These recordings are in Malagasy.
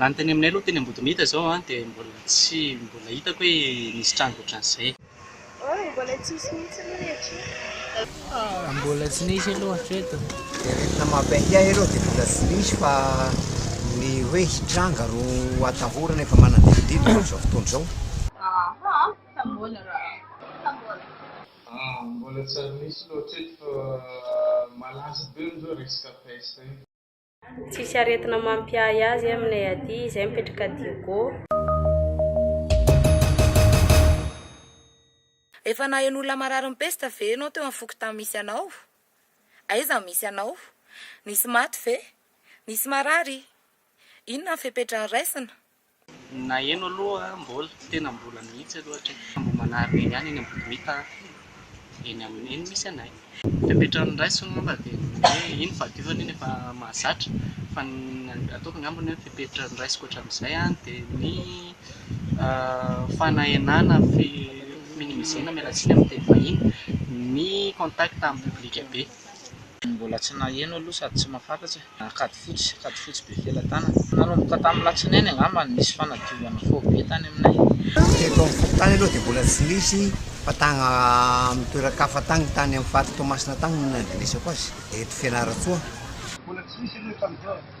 Raha ny teny aminay aloha teny Ambodimita izao an, dia mbola tsy mbola hitako hoe nisy trano ohatran'izay. Oy, mbola tsy nisy mihitsy aloha ny aty. Mbola tsy nisy aloha hatreto. Dia rehefa mampiahiahy ianao dia mbola tsy nisy fa ny hoe hitranga ro atahorana efa manadidodidina amin'izao fotoana izao. Aha, ka mbola ra, ka mbola. Aa, mbola tsy ary nisy aloha hatreto fa malaza be hono izao resaka peste io. Tsisy aretina mampiahy azy e aminay aty, izay mipetraka Diego. Efa naheno olona marary ny pesta ve ianao teo amin'ny fokontany misy anao? Aiza no misy anao? Nisy maty ve? Nisy marary? Inona ny fepetra noraisina? Naheno aloha mbola, tena mbola mihitsy aloha hatreto fa mbola manarina eny ihany eny Ambohimita eny amin'ny eny misy anay. Fepetran'ny raisiko angamba dia ny hoe iny fahadiovana iny efa mahazatra fa ny ataoko angamba ny hoe fepetran'ny raisiko hatramin'izay dia ny fanahenana fi-minimiser-na miala tsiny amin'ny teny vahiny ny contact amin'ny public be. Ny mbola tsy naheno aloha sady tsy mahafantatra e! Kady fotsy, kady fotsy be felatanana. Nanomboka tamin'ny latsinainy angamba no nisy fanadiovana faobe tany aminay e! Teto amin'ny fokontany aloha dia mbola tsy nisy fa tagny amin'ny toeran-kafa tagny, tany amin'ny faritra Toamasina tagny no nandrenesako azy, eto Fianarantsoa. Mbola tsy nisy aloha tamin'izao e!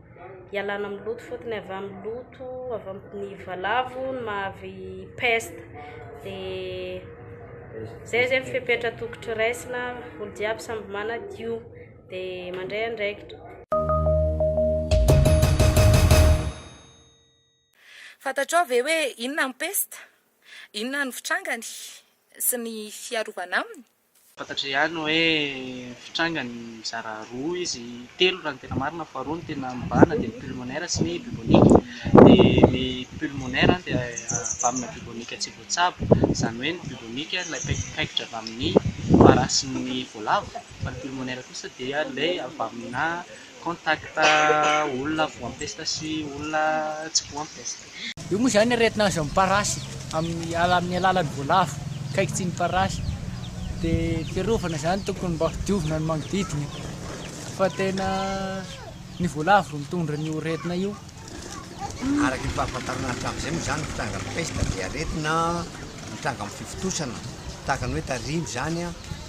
ialana amin'ny loto fotony avy amin'ny loto avy amin'ny valavo ny mahavy peste dia zay zay ny fepetra tokotry raisina olo jiaby samby manadio dia mandray andraikitra fantatrao ve hoe inona ny peste inona ny fitrangany sy ny fiarovana aminy Fantatray ihany hoe fitranga ny mizara roa izy, telo raha ny tena marina fa roa ny tena mibahana dia ny pulmonaire sy ny bubonique. Dia ny pulmonaire dia avy amina bubonique tsy voatsabo, izany hoe ny bubonique ilay paikitra avy amin'ny fara sy ny voalavo fa ny pulmonaire kosa dia ilay avy amina Contact olona voampesta sy olona tsy voampesta. Io moa izany aretina azon'ny parasy amin'ny alalan'ny voalavo akaiky tsy ny parasy dia fiarovana izany tokony mba ho diovina ny manodidina fa tena ny voalavo no mitondra an'io aretina io. Araka ny fahafantarana hatramin'izay moa izany ny fitrangan'ny pesta dia aretina mitranga amin'ny fivontosana tahaka ny hoe tarimo izany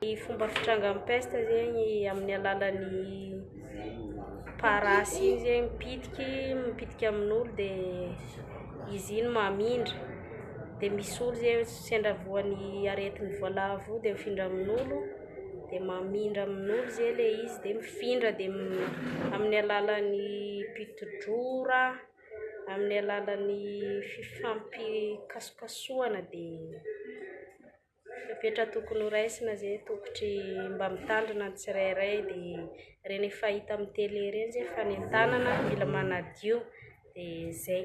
Ny fomba fitrangan'ny peste zegny amin'ny alalan'ny parasy igny zegny mipitiky mipitiky amin'olo de izy igny mamindra de misy olo zegny sendra voan'ny aretin'ny voalavo io de mifindra amin'olo de mamindra amin'olo zay le izy de mifindra de amin'ny alalan'ny piti-drora. amin'ny alalan'ny fifampikasokasohana dia fepetra tokony ho raisina izay ny tokotry mba mitandrina ny tsirairay dia ireny efa hita amin'ny tele ireny izay fanentanana mila manadio dia izay